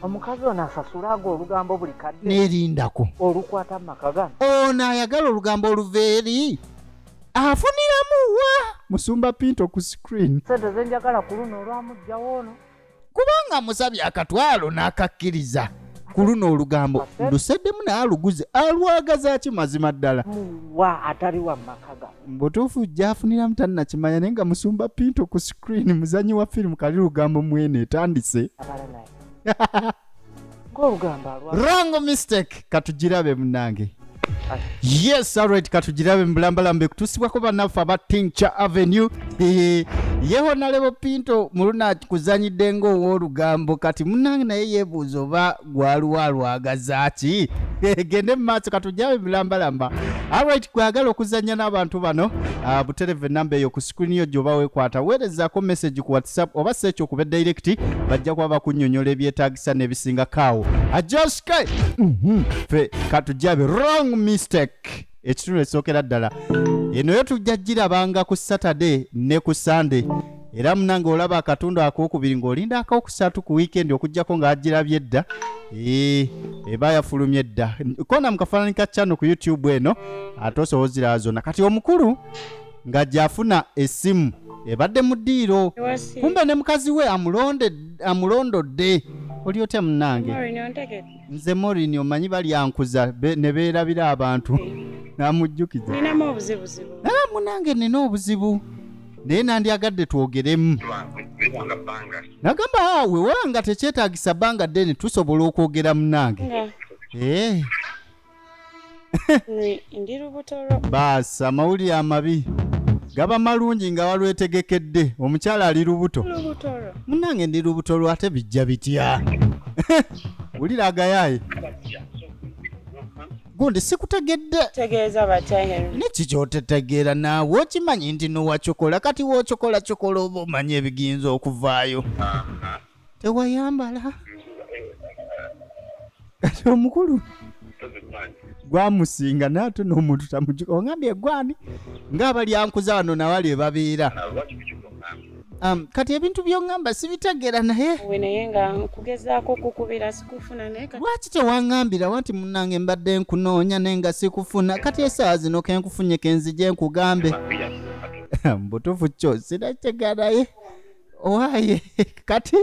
omukazi ono asasula ago olugambo buli kadde nerindako olukwata mumaka gano ono ayagala olugambo oluva eri afuniramu wa musumba pinto ku screen sente zenjagala ku luno olwamugjawo ono kubanga musabye akatwalo n'akakkiriza ku luno olugambo nduseddemu naye aluguze alwagaza ki mazima ddala muwa atali wa mumaka gano mbutuufu gyafuniramu tannakimanya naye nga musumba pinto ku screen muzanyi wa firimu kali lugambo mwene etandise wrong mistake katugirabe munange yes alright katugirabe mubulambalamba ekutusibwako banaffe aba tincha avenue yeho nalebo pinto muluna kuzanyidde nga owolugambo kati munange naye yebuuza oba gwaliwo alwagaza ki gende mu maaso katujjawo emilambalamba alright gwagala okuzannya n'abantu bano ah, buterevu enamba eyo ku sikulini yo gyoba wekwata weerezaako message ku whatsapp oba si ekyo kuba direct bajja kuba bakunyonyola ebyetaagisa n'ebisinga kaawo ajoske mhm. fe katujjabe wrong mistake ekitundu ekisookera ddala eno yo tujja girabanga ku saturday ne ku sunday era munange olaba akatundu akokubiri ng'olinda akokusatu ku wiikendi okugyako ng'agirabye dda ee eba yafulumye dda kona mu kafaananyi ka chano ku youtube eno ate osobola oziraba zonna kati omukulu nga gyafuna essimu ebadde mu ddiiro kumbe ne mukazi we amulonde- amulondodde oli otya munange Maureen, ontegedde? nze morini omanyi balyankuza ne beerabira abantu namujjukiza ninamu obuzibuzibu naye munange nina obuzibu naye nandyagadde twogeremu nagamba awe wanga tekyetagisa bbanga ddene tusobola okwogera munange ee eh. ndi lubuto lwo baasi amawulire amabi gaba malungi nga walwetegekedde omukyala ali lubuto lubuto lwo munange ndi lubuto lwo ate bijja bitya wulira agayaaye gundi sikutegedde tegeeza batya henry neki kyotetegeera naawe okimanyi nti nowacokola kati wocokola cokola oba omanyi ebigiyinza okuvaayo tewayambala kati omukulu gwamusinga naye ate n'omuntu tamujuka ongambye egwani ngaabalyankuza wano nawali ebabeera um, kati ebintu byongamba sibitegeera naye we naye nga nkugezaako okukubira sikufuna naye kati lwaki tewangambira wanti munange mbadde nkunoonya naye nga sikufuna kati esaawa zino kenkufunye kenzije nkugambe mbutufu kyo sinakitegera naye owaye kati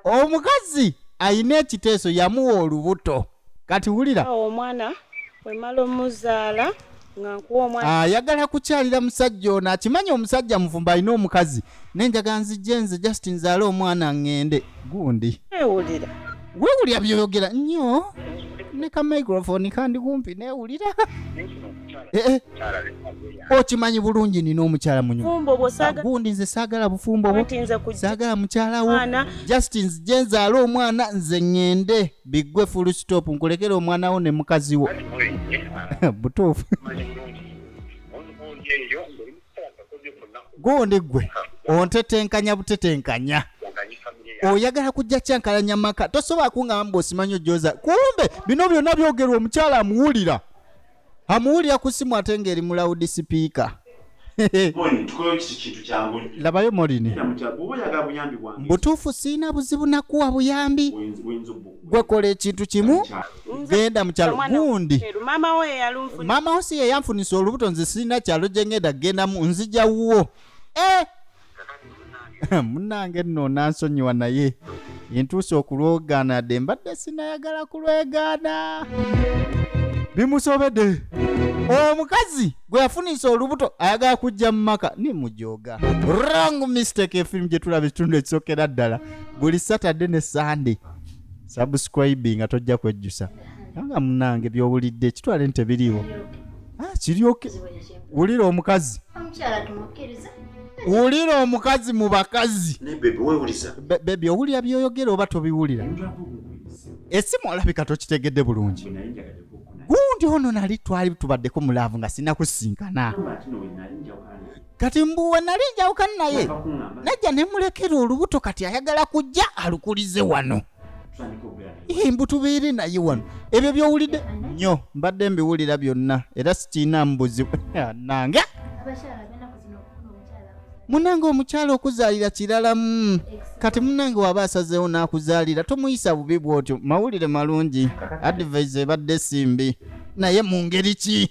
omukazi alina ekiteeso yamuwa olubuto kati wulira awo omwana wemala omuzaala nga nkuwa omwana ayagala kukyalira musajja ono akimanyi omusajja mufumba alina omukazi naye njagala nzijje nze just nzaale omwana ŋŋende gundi ewulira weewulira byoyogera nnyo ne ka microphone kandi kumpi neewulira eh, eh. okimanyi bulungi nina omukyala munyogundi nze saagala bufumbo bwo saagala mukyala wo just nze gye nzaala omwana nze ŋŋende biggwe full stop nkulekere omwana wo ne mukazi wo butuufu gundi ggwe ontetenkanya butetenkanya oyagala kujja kyankalanya maka tosobola kungamba mbu osimanyi ojooza kumbe bino byonna byogerwa omukyala amuwulira amuwulira ku simu ate ng'eri mu lawudi sipiika labayo molini mbutuufu siina buzibu nakuwa buyambi gwekola ekintu kimu genda mukyalo gundi maama wo si yeyanfunisa olubuto nze siina kyalo gyengenda gendamu nzija wuwo eh! munange nno onansonyiwa naye entuusa okulwogaana de mbadde sinayagala kulwegaana bimusobede omukazi gwe yafunisa olubuto ayagala kujja mu maka ni mujoga wrong mistake efirimu gye tulaba ekitundu ekisokera ddala buli saturday ne sunday subscribinga tojja kwejjusa nga munange byowulidde kitwale nti tebiriiwo ah, kiryoke wulira omukazi wulira omukazi mu bakazi bebi owulira byoyogera oba tobiwulira esimu olabika tokitegedde bulungi gundi ono nali twali tubaddeko mulaavu nga sinakusinkana kati mbuwe nali njawukana naye najja nemulekera olubuto kati ayagala kujja alukulize wano mbu tubeere naye wano ebyo byowulidde nnyo mbadde mbiwulira byonna era sikiina mubuzi nange munange omukyala okuzaalira kiralamu kati munange waba asazeewo n'akuzaalira tomuyisa bubi bw'otyo mawulire malungi adivaiza ebadde simbi naye mu ngeri ki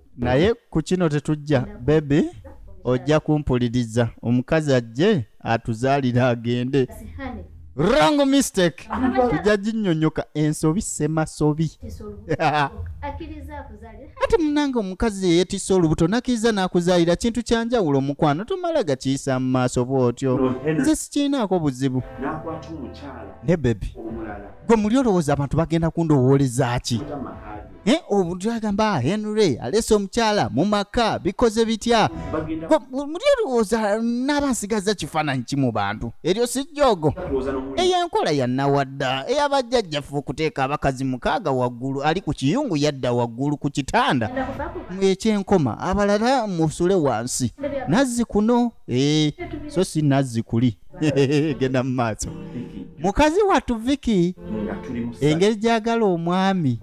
naye ku kino tetujja bebi ojja kumpuliriza omukazi ajje atuzaalire agende wrong mistake tujja ginyonyoka ensobi semasobi ati munange omukazi eyetisa olubuto nakiriza nakuzaalira kintu kyanjawulo omukwano tomala gakiyisa mu maaso bwotyo nze sikirinaako buzibu ne bebi gwe muli olowooza abantu bagenda kundowooleza ki Eh, omuntu agamba henry alese omukyala mu maka bikoze bitya muli olowooza naaba nsigaza kifaananyi ki mu bantu eryo si jjoogo eyo enkola yannawadda eyabajjajjaffe okuteeka abakazi mukaaga waggulu ali ku kiyungu yadda waggulu ku kitanda mwekyenkoma abalala musule wansi nazzi kuno ee eh, so si nazzi kuli genda mu maaso mukazi wattu viki engeri gyagala omwami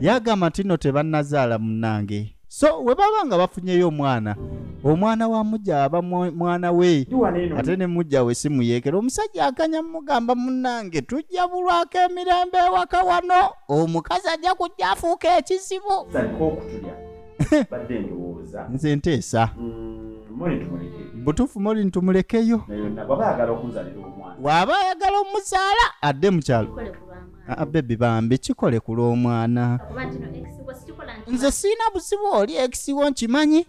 yagamba nti no tebanazaala munange so we baba nga bafunyeyo omwana omwana wa mujja aba mwana we ate ne mujja we si muyeekera omusajja akanya mugamba munange tujja bulwako emirembe ewaka wano omukazi ajja kujja afuuka ekizibu nze nteesa mm, butuufu moli ntumulekeyo waaba ayagala omuzaala adde mukyalo ah, ah, bebi bambi kikole ku lw'omwana nze siina buzibu oli ekisiwo nkimanyi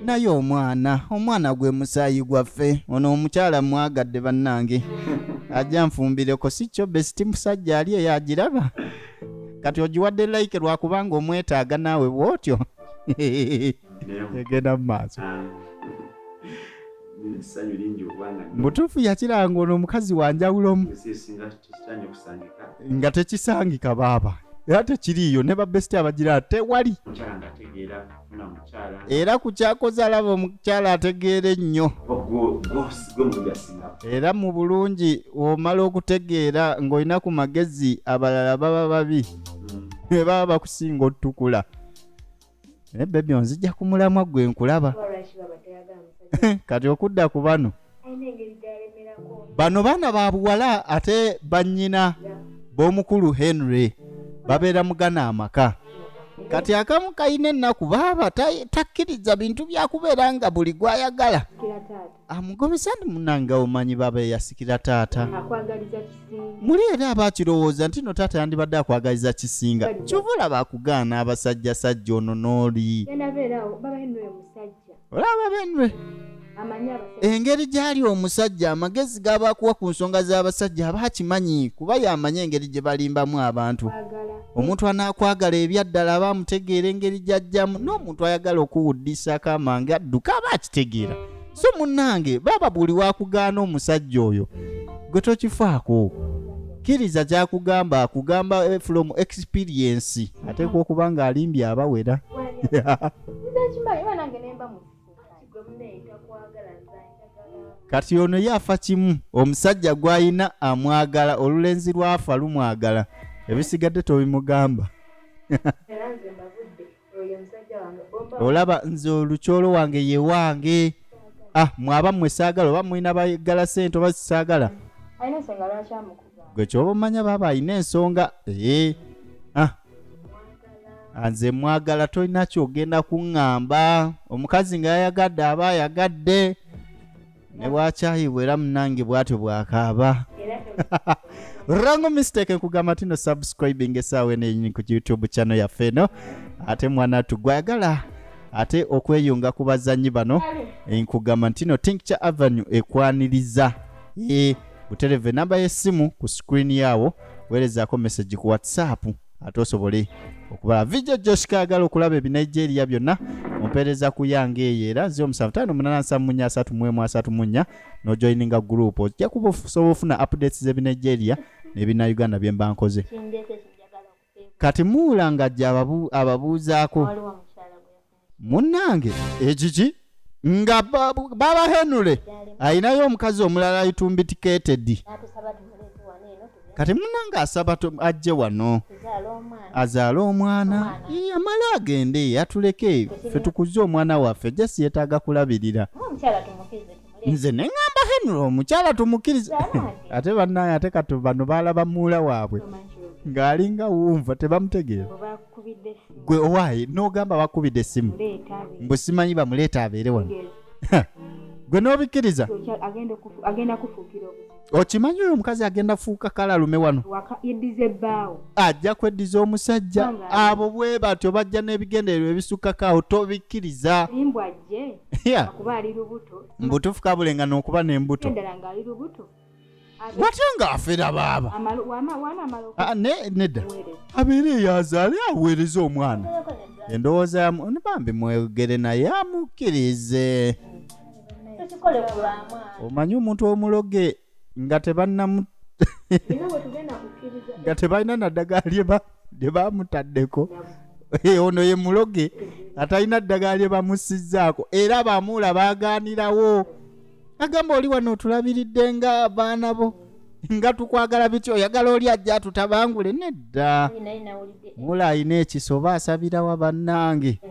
naye omwana omwana gwe musaayi gwaffe ono omukyala mwagadde bannange ajja nfumbireko si kyo besiti musajja ali eyo agiraba kati ogiwadde like lwakubanga omwetaaga naawe bwotyo egenda mu maaso ah. mutuufu yakiranga ono omukazi wanjawulomu nga tekisangika baaba era tekiriiyo ne babesiti abagira tewali era ku kyakoze alaba omukyala ategeera ennyo era mu bulungi omala okutegeera ng'olina ku magezi abalala baba babi ne mm. baba bakusinga otutukula naye bebi onzija ku mulamwa gwe nkulaba kati okudda ku bano bano baana ba buwala ate bannyina b'omukulu henry babeera mugana amaka kati akamu kalina ennaku baaba ta- takkiriza bintu byakubeera nga buli gwayagala amugobesa ndi munange omanyi baaba eyasikira taata akwagaliza kisinga muli era aba akirowooza nti no taata yandibadde akwagaliza kisinga kyova olaba akugaana abasajjasajja ono n'oli yanabeerawo baba henry oyo musajja olaba benwe engeri gyali omusajja amagezi g'abakuwa ku nsonga z'abasajja aba akimanyi kuba y'amanyi engeri gye balimbamu abantu omuntu anaakwagala ebyaddala aba amutegeera engeri gy'ajjamu n'omuntu ayagala okuwuddisako amange adduka aba akitegeera so munnange baaba buli wakugaana omusajja oyo gwe tokifaako kkiriza kyakugamba akugamba eh, from experience ateekwa okuba ng'alimbye abawera kati ono ye afa kimu omusajja gw'alina amwagala olulenzi lwafa lumwagala ebisigadde tobimugamba olaba nze olukyolo wange ye wange ah mwaba mmwe saagala oba mulina bagala sente oba sisaagala gwe kyoba omanya baaba alina ensonga ee eh. ah nze mwagala tolina kyogenda kuŋŋamba omukazi nga yayagadde aba ayagadde ne bwakyayibwa era munange bwatyo bwakaaba rango mistake nkugamba tino subscribing esaawa eno enyini ku youtube channel yaffe eno ate mwana tu gwayagala ate okweyunga ku bazannyi bano nkugamba ntino tincture avenue ekwaniriza e butereve namba y'essimu ku screen yaawo weerezaako message ku whatsapp ate osobole okubala vijja joshika agala okulaba ebinigeria byonna ompeereza ku yange eyo era zi omusanvu taano munana nsamu munya asatu mwemu asatu munya nojoininga gurupu ojja kuba osobola ofuna updates z'ebinigeria nebina uganda bye mba nkoze kati muula nga jja ababuuzaako munnange ekiki nga baba henule ayinayo omukazi omulala ayitumbitikeetedi kati munange asaba ajje wano azaale omwana amale agende atuleke fe tukuze omwana waffe jasi yetaaga kulabirira nze neŋamba henry omukyala tumukiriza ate banaye ate kati bano baalaba muula waabwe ng'alinga wumva tebamutegeera gwe owaayi n'ogamba bakubidde essimu mbu simanyi bamuleeta abeere wano gwe n'obikkiriza okimanyi oyo omukazi agenda kufuuka kalalume wano ajja kweddiza omusajja abo bwe batyo bajja n'ebigendererwa ebisukkakaawo tobikkiriza mbutuufu kabulenga n'okuba n'embuto watya nga afera baaba Ah, ne- nedda abeera eyazaale aweereza omwana endowooza yamu ne bambi mwegere naye amukkirize tukikole ku lwamwana omanyi omuntu omuloge nga tebannamu bino bwe tugenda kukkiriza nga tebalina naddagala lye ba- lye bamutaddeko Eh, ono ye muloge atalina ddagala lye bamussizzaako era bamuula baagaanirawo agamba oli wano otulabiridde nga abaana bo nga tukwagala bitya oyagala oli ajja tutabangule nedda mula alina ekiso oba asabirawa bannange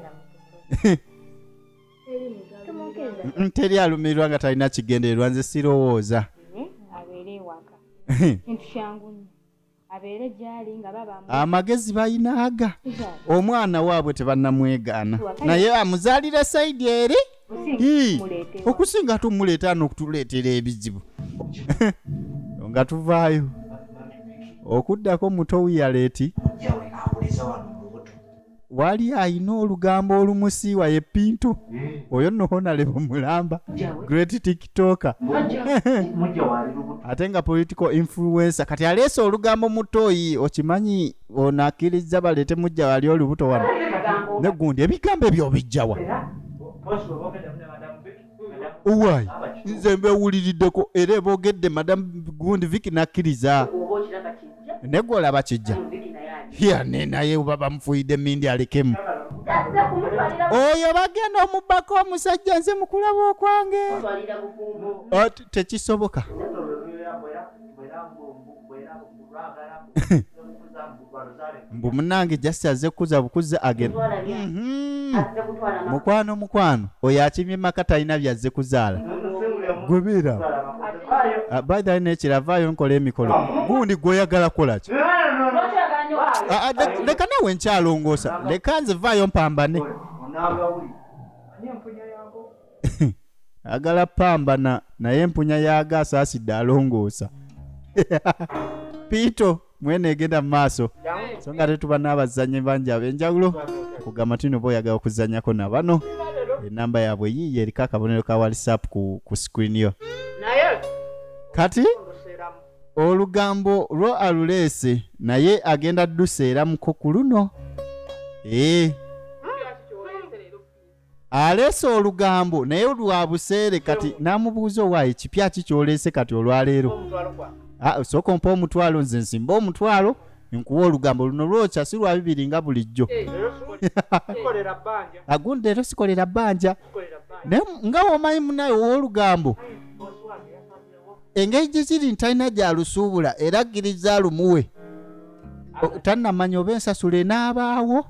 teri alumirirwa nga talina kigendererwa nze sirowooza abeere gyali nga baba amagezi balina aga omwana waabwe tebanamwegaana naye amuzaalira saidi eri Ii, okusinga ate omuleeta n'okutuleetera ebizibu nga tuvaayo okuddako muto wiyaleeti wali ayina olugambo olumusiiwa ye pintu oyo no honalebo mulamba great tiktoker ate nga political influencer kati aleese olugambo mutoyi okimanyi ono akkirizza baleete mujja wali olubuto wano negundi ebigambo ebyo obijjawa owayi nze mbewuliriddeko era ebogedde madamu gundi viki nakkiriza negwe olaba kijja yane naye uba bamufuyidde mindi alekemu oyo bagenda omubbako omusajja nze mukulaba okwange tekisoboka mbu munange just aze kukuza bukuzi agenda mhm. mukwano mukwano oyo akimye maka talina byazze kuzaala gubira ah, by the way nekira avaayo nkola emikolo gundi gwoyagala kolaki ah, ah, leka nawe nkyalongoosa leka nze vaayo mpambane agala pambana naye empunya yaaga asaasidde alongoosa piito mwene egenda mu maaso so nga tetuba n'abazannyi bangi ab'enjawulo okugamba nti noba oyagala okuzannyako na bano enamba yaabwe yiiyo eriko akabonero ka whatsapp ku, ku screen yo naye kati luseramu olugambo lwo aluleese naye agenda duseeramuko ku luno ee aleese olugambo naye lwa buseere kati n'amubuuza owaaye kipya ki kyoleese kati olwaleero ah, sooka ompa omutwalo nze nsimba omutwalo nkuwa olugambo luno lwokya si lwa bibiri nga bulijjo eh, agundi leero sikolera bbanja naye nga womanyi munaye ow'olugambo engeri gye kiri nti talina gyalusuubula era akkiriza alumuwe tannamanya oba ensasula enaabaawo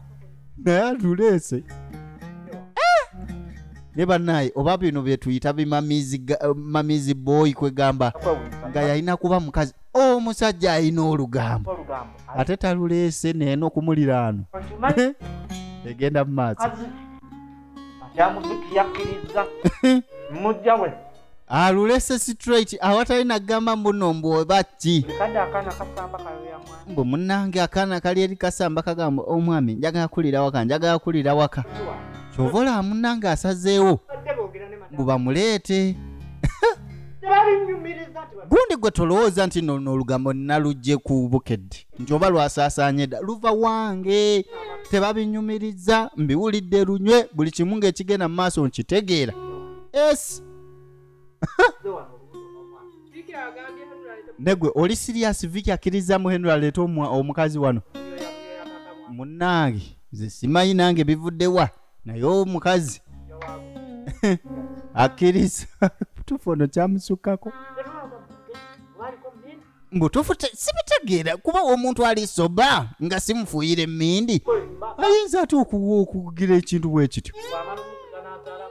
naye atuleese eh! ne banaye oba bino byetuyita bimamizi eh, boyi kwegamba nga yalina kuba mukazi omusajja alina olugambo ate taluleese naye nokumuliraano eh? egenda mu maaso alulese straight awatali nagamba mbuno mbu oba ki mbu munange akaana kali eri kasamba kagamba omwami oh, njagala kulira waka njagala kulira waka kyova olaba munange asazeewo mbu bamuleete gundi gwe tolowooza nti nono olugambo nalugye ku bukedde nti oba lwasaasaanye dda luva wange tebabinyumiriza mbiwulidde lunywe buli kimu ng'ekigenda mu maaso nkitegeera es negwe oli sirias viki akkirizzamu henry aleeta omukazi wano munnange nze simanyi nange bivuddewa naye omukazi akkiriza tufu ono kyamusukkako mbutuufu sibitegeera kuba omuntu ali soba nga simufuuyira emmindi ayinza ate okuwa okugira ekintu bwe kityo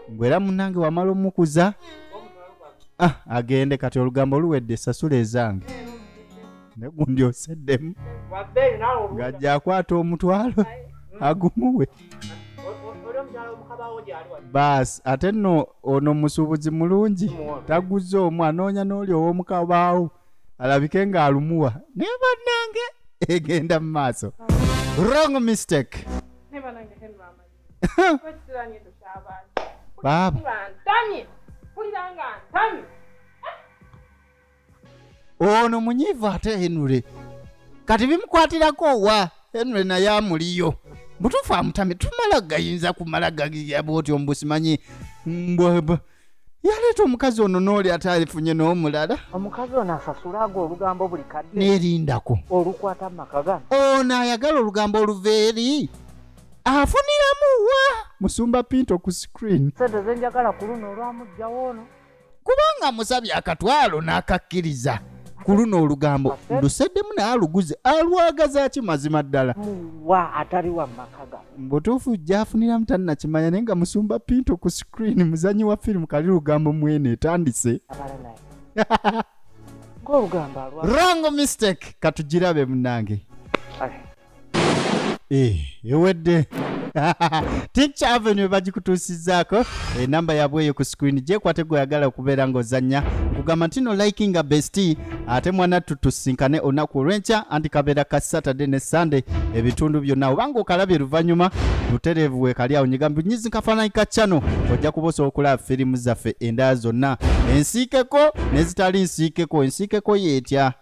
mbwera munange wamala omukuza ah, agende kati olugambo luwedde sasula ezange negundi oseddemu ng'ajja akwata omutwalo agumuwe baasi ate nno ono musuubuzi mulungi taguzza omu anoonya n'oli ow'omu kabaawo alabike ng'alumuwa naye bannange egenda mu maaso wrong mistake baaba ono munyiivu ate henure kati bimukwatirako wa henure naye amuliyo butuufu amutame tumala gayinza kumala gagiya bwoti omubusimanyi mbwaba yaleeta omukazi ono nooli ate alifunye n'omulala omukazi ono asasula ago olugambo buli kadde neerindako olukwata mumaka gano ono ayagala olugambo oluva eri afuniramu wa musumba pinto ku screen sente zenjagala ku luno olwamugjawo ono kubanga musabye akatwalo n'akakkiriza ku luno olugambo nduseddemu naye aluguze alwagaza ki mazima ddala muwa atali wa maka ga mbutuufu gyafuniramu tannakimanya naye nga musumba pinto ku screen muzanyi wa firimu kali lugambo mwene etandise abala naye ng'olugambo alwa rango mistake katugirabe munange Ai. Eh, ewedde ticha avenue bagikutuusizaako enamba eh, yabwe eyo ku screen gyekwate gweyagala okubeera ng'ozannya nkugamba ntino likinga besti ate mwana tutusinkane olunaku olw'enkya anti kabeera ka saturday ne sunday ebitundu byonna obanga okalabye luvannyuma butereevu weekali awo nyigambi nyizi kafaananyi ka chano ojja kuba osobola okulaba firimu zaffe endala zonna ensiikeko nezitali nsiikeko ensiikeko yeetya